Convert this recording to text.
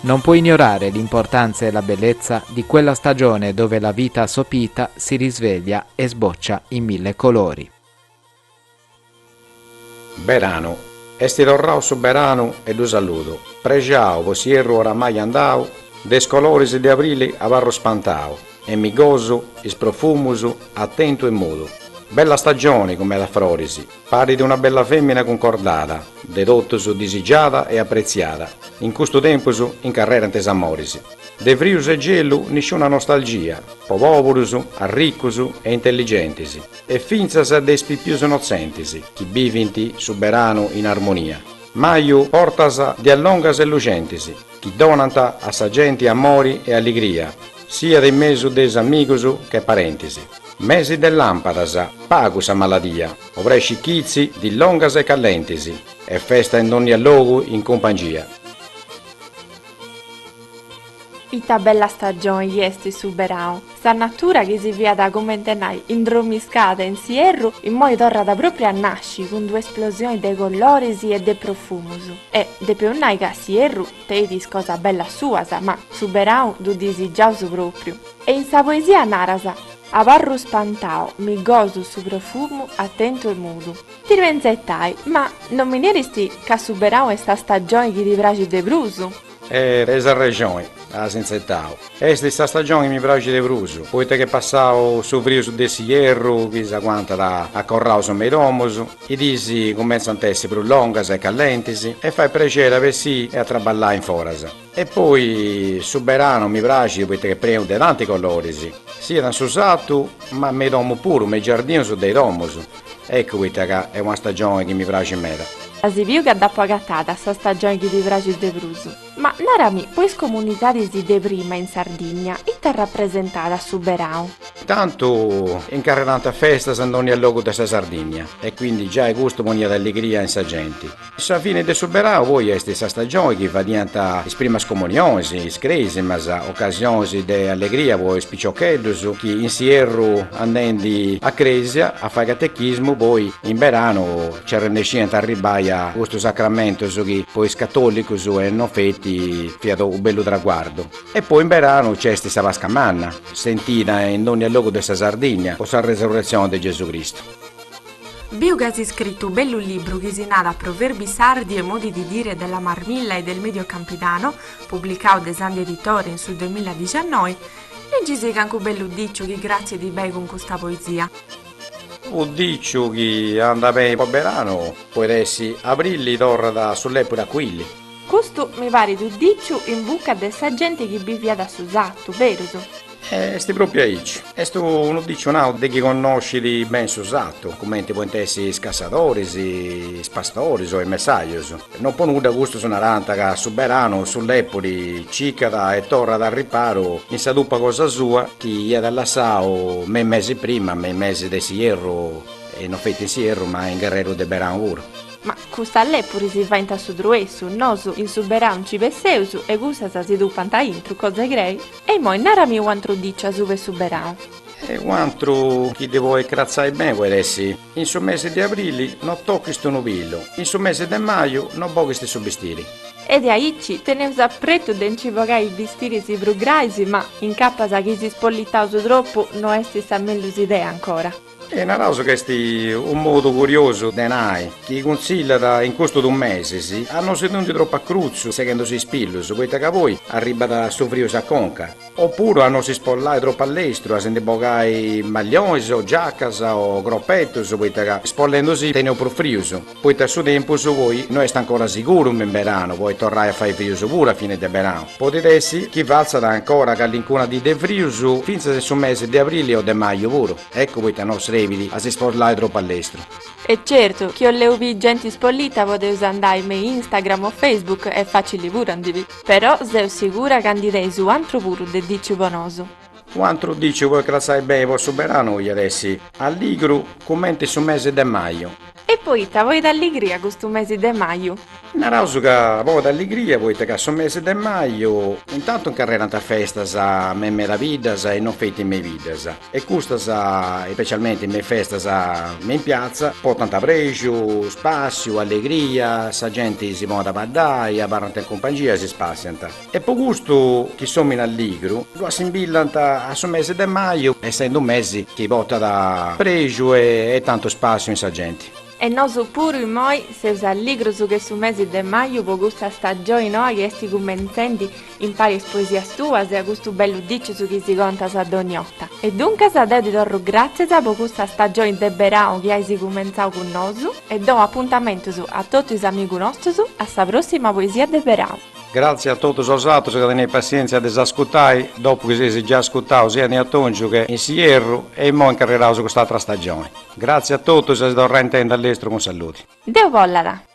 Non può ignorare l'importanza e la bellezza di quella stagione dove la vita assopita si risveglia e sboccia in mille colori. Beranu. Esti torrau su beranu e ddu saludu, prexau po s'ierru oramai andau, de is coloris de abrili abarru spantau, e mi gosu is profumus, atentu e mudu. Bella stagioni cun meda froris. Parit una bella fèmina cuncordada, de totus disigiada e apretziada, in custu tempus incarrerant is amoris. De frius e gelu nisciuna nostalgia, po pòburus, arricus e intelligentis, e fintzas de is pipius innotzentis chi bivint su beranu in armonia, maju portas dies longas e luxentis, chi donant a sa genti amori e alligria, siat in mesu de is amigus che parentis. Mesi de lampadas, pagu sa maladia, obrescit chitzi, dì longas e callentis, e festa in donnia logu in cumpangia. Ita bella stagioni esti su berau! Sa natura chi si fiat comente a nai indromiscada in s'ierru immoi torrat pròpriu a nasci cun d'una esplosioni de coloris e de profumus. E depeus nai ca s'ierru tenit is cosas bellas suas, ma su berau ddu disigiaus pròpriu. E in sa poesia naras. Abarru spantau, mi gosu su profumu atentu e mudu. Tiru a intzetai, ma non mi neristi ca su berau est sa stagioni chi ti praxit de prus? E tenis arrexoni, as intzetau. Est sa stagioni chi mi praxit de prus, poita ch'est passau su frius de s'ierru chi s'aguantat acorraus mei domus, i dis cumentzant a essi prus longas e callentis e fait prexeri a bessì e a traballai in foras. E poi su beranu mi praxit poita ch'est prenu de tanti coloris, siat in su satu ma mei domu puru, mei giardinus de i domus. Eccu poita ca est una stagioni chi mi praxit meda. As biu ca dd'apu agatada sa stagioni chi ti praxit de prus. Ma narami, po is comunidadis de prima in Sardinnia, ita rapresentàt su berau? Tantu incarrerànt festas in dònnia logu de sa Sardinnia e quindi giai custu poniat alligria in sa genti. Sa fine de su berau poi est sa stagioni chi fadiant is primas comunionis, is crèsimas, ocasionis de allegria po is piciocheddus chi in s'ierru andendi a crèsia a fai catechismu poi in beranu nci arrennesciant a arribbai a custus sacramentus chi po is catòlicus e non feti fiat u' bellu traguardu. E poi in beranu nci est sa Pasca Manna, sentida in dònnia logu de sa Sardìnnia po sa Resurretzioni de Gesù Cristu. Biu ca as iscritu u' bellu libru chi si nadat Proverbi sardi e modi di dire della Marmilla e del Medio Campidano, publicau de Sandhi Editore in su duemilla diciannoi, leggisì cancu bellu diciu chi cratzit bei cun custa poesia. U diciu chi andat bei po beranu. Podit essi abrili torrat su lèpuri a cuili. Custu mi parit unu diciu in buca de sa genti chi biviat a su sartu, berus? Est pròpiu aici. Est unu diciu nau de chi connoscit beni su sartu, cumenti podint essi is cassadoris, is pastoris o is messajus. No po nudda custus narànt ca su beranu su lèpuri cicat e torrat a riparu in sa tupa cosa sua chi iat lassau me is mesis prima, me is mesis de s'ierru, e no feti in s'ierru ma in cuss'e' intreu de beranu puru. Ma cussas lèpuri si faint a su truessu, nosu in su berau nci besseus e cussas si tupant a intru, cosa 'e crei? E immoi narami u antru diciu asubu 'e su berau. E u antru chi ddi poit cratzai beni poit essi, In su mesi de abrili no tochis unu pilu, in su mesi de maju no boghis su bistiri. E de aici teneus a pretu de nci bogai is bistiris prus grais, ma, incapas chi si ispollitaus tropu, no est sa mellus idea ancora. E naraus ca est unu modu curiosu de nai chi cunsillat in custus duus mesis a no si tundi tropu a crutzu seghendusì is pilus, poita ca poi arribbat su frius a conca, o puru a no si spollai tropu a lestru, a si ndi bogai maglionis o giacas o croppettus, poita ca spollendusì teneus prus frius. poita su tempus poi no est ancora siguru in beranu podit torrai a fai frius puru a fini de beranu, podit essi chi fatzat ancora callincuna dì de frius fintzas in su mesi de abrili o de maju puru, eccu poita no srebit a si spollai tropu a lestru. E certu, chi 'olleus bì genti ispollita podeus andai me Instagram o Facebook est fàcili puru a ndi bì. Però seu sigura ca ndi teis u antru puru de diciu po nosu. U antru diciu poit crassai beni po su beranu iat essi alligru cumenti su mesi de maju. E poita potat alligria custu mesi de maju? Naraus ca potat alligria poita ca su mesi de maju. Intantu incarrerant festas me meda biddas e non feti me i biddas e custas ispecialmenti me i festas me in piazza portant prexu, spassiu, allegria, sa genti si ponit a baddai, abarrant in cumpangia e si spassiant. Est po custu chi s'òmine alligru ddu assimbillant a su mese de maju, essende unu mese chi portat prexu e tantu spàssiu in sa genti. E nosu puru immoi seus alligrus che su mese de maju po custa stagioni noa chi est cumenzende impari is poesias tuas e a custu bellu dìcius chi si contas a dònnia 'orta. E duncas deu ti torru gràtzias po custa stagioni de berau chi asi cumenzau cun nosu e dou apuntamentus a totu is amigu nostus a sa pròssima poesia de berau. Grazia a totus 'osatrus ca teneis passientzia de s'ascutai dopu chi seis già ascutau sia in atòngiu che in s'ierru e immoi incarreraus cust'atra stagioni. Grazia a totus e a si torrai intendi a lestru cun saludi. Deu bollat.